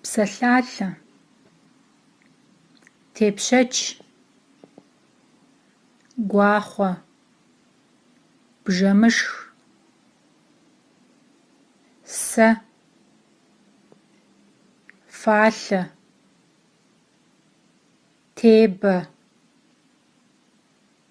Псалъалъэ. Тепщэч. Гуахъуэ. Бжэмышх. Сэ. Фалъэ. Тебэ.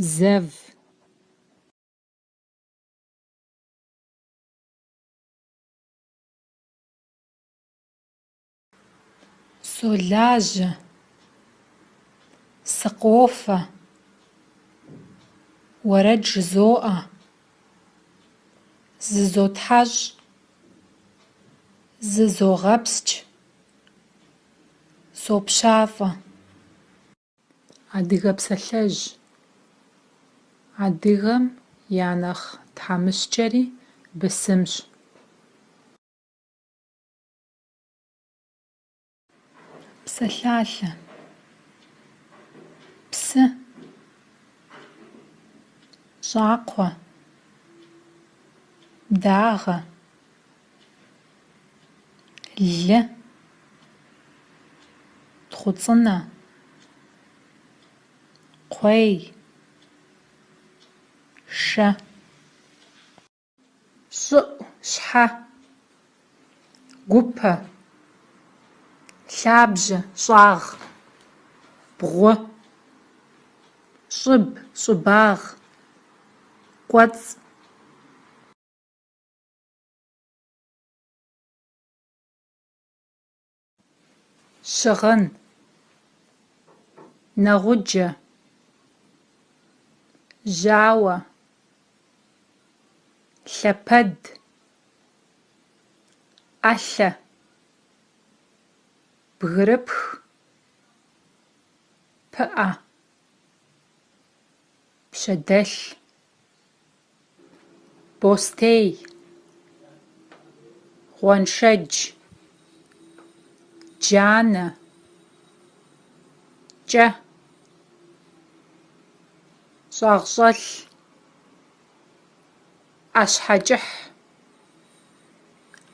Зэв. Солажьэ. Сыкъофэ. Уэрэд жызоӏэ. Зызотхьэщӏ. Зызогъэпскӏ. Сопщафӏэ. Адыгэ псалъэжь. Адыгэм я нэхъ тхьэмыщкӏэри бысымщ. Псалъалъэ. Псы. Щӏакхъуэ. Дагъэ. лы, тхъуцӏынэ, кхъуей, шэ. Щӏыӏу, щхьэ, гупэ, лъабжьэ, щӏагъ, бгъу, щӏыб, щӏыбагъ, кӏуэцӏ. Щыгъын. Нэгъуджэ. Жьауэ. Лъэпэд. ӏэлъэ. Бгырыпх. Пыӏэ. Пщэдэлъ. бостей, гъуэншэдж, джанэ, кӏэ, щӏагъщӏэлъ, ӏэщхьэкӏыхь.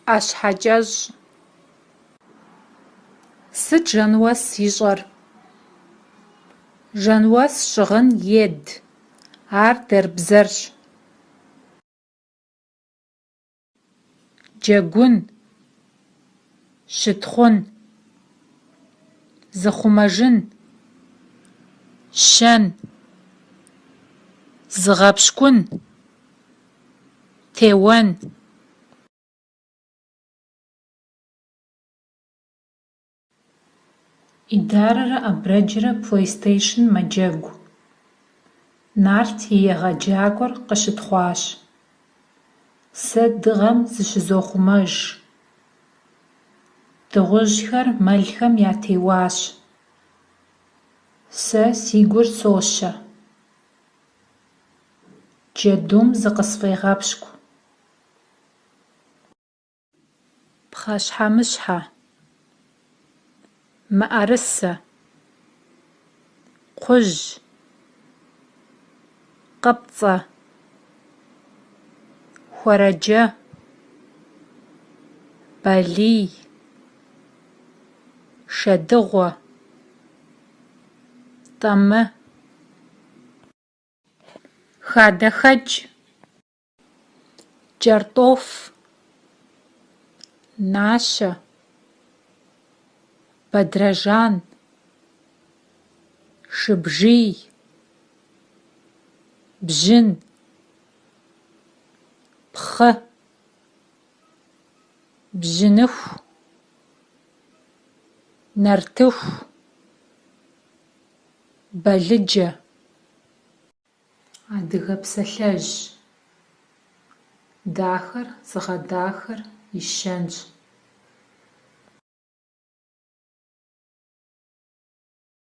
ӏэщхьэкӏэщӏ. Сыт Жэнуэс ищӏэр? Жэнуэс щыгъын ед. Ар дэрбзэрщ. Джэгун. Щытхъун. Зыхъумэжын. Щэн. Зыгъэпщкӏун. Теуэн. Идарэрэ Абрэджрэ PlayStation мэджэгу. Нарт и егъэджакӏуэр къыщытхъуащ. Сэ дыгъэм зыщызохъумэж. Дыгъужьхэр мэлхэм ятеуащ. Сэ си гур сощэ. Джэдум зыкъысфӏегъэпщкӏу. Пхъэщхьэмыщхьэ. Мыӏэрысэ. Кхъужь. Къыпцӏэ. Хуэрэджэ. Балий. Шэдыгъуэ. Тӏэмы. Хадэхэкӏ. Кӏэртӏоф. Нащэ. Бадрэжан. Шыбжий. Бжьын. Пхъы. бжьыныху, нартыху, балыджэ. Адыгэ псалъэжь. Дахэр зыгъэдахэр и щэнщ.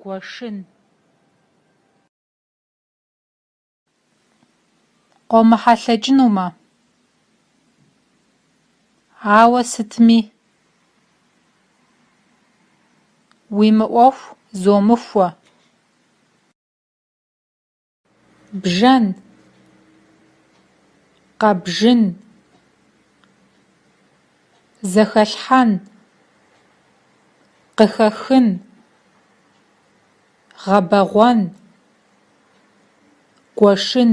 Гуэшын. Къомыхьэлъэкӏынумэ. Ауэ сытми. Уи мыӏуэху зумыхуэ. Бжэн. Къэбжын. Зэхэлъхьэн. Къыхэхын. Гъэбэгъуэн. Гуэшын.